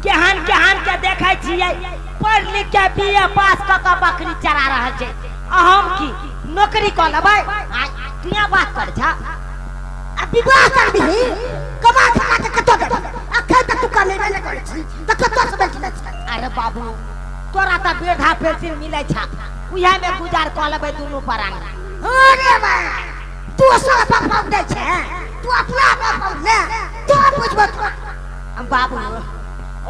केहन केहन के देखे छियै पढ़ लिख के बीए पास क के बकरी चरा रहल छै आ हम की नौकरी क लेबै आ दुनिया बात कर छ आ विवाह कर दही कमा खा के कतो दे अखन तक तू कमे नहीं कर छी त कतो से बैठ ले छी अरे बाबू तोरा त बेधा पेंसिल मिलै छ उहे में गुजार क लेबै दुनू परान अरे बा तू सब बाप बाप दे छै तू अपना बाप बाप ले तू बुझबो तू बाबू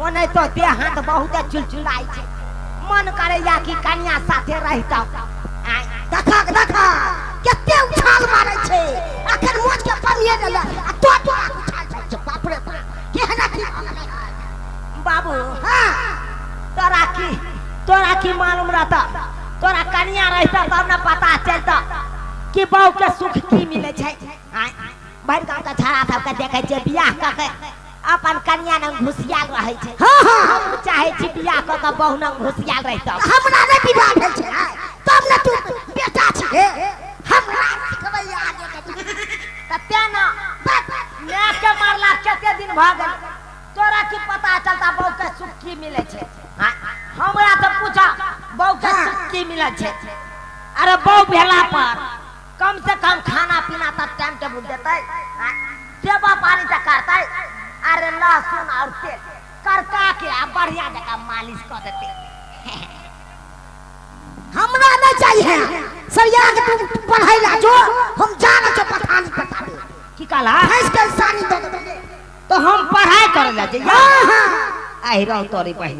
ओने तो देह हाथ बहुत चुलचुलाई छै मन करैया कि कनिया साथे रहिता आय देखक देखक कते उछाल मारै छै अखन मोच के पनिए गेल आ तो तो उछाल छै छै, बाप रे बाप केहना की बाबू हाँ तोरा की तोरा की मालूम रहता तोरा कनिया रहिता तब ने पता चलता कि बहू के सुख की मिले छै आय भरि गाँव के छड़ा सबके देखै छियै बियाह कऽ के अपन कन्या नंग घुसियाल रहै छै हाँ हाँ हम चाहै छी बियाह कऽ के बहु नंग घुसियाल रहितहुँ हमरा नहि विवाह भेल छै ने तब ने तू बेटा छी हे हमरा सिखबै आगे के चीज। तऽ तेँ ने माय के मारला कते दिन भऽ गेल तोरा की पता चलता बहू के सुख की मिलै छै हाँ, हमरा तऽ पूछा बहू के सुख की मिलै छै अरे बहू भेला पर कम से कम खाना पीना तक टाइम टेबुल देते सेवा पानी तक करते अरे लहसुन और तेल करका के आ बढ़िया जगह मालिश कर देते हमरा नहीं चाहिए सरिया के तू पढ़ाई ला जो हम जाना छो पठान पठाबे की कहला भैंस के सानी दे दे तो हम पढ़ाई करे ला जइया हां हां आई रहो तोरी बहिन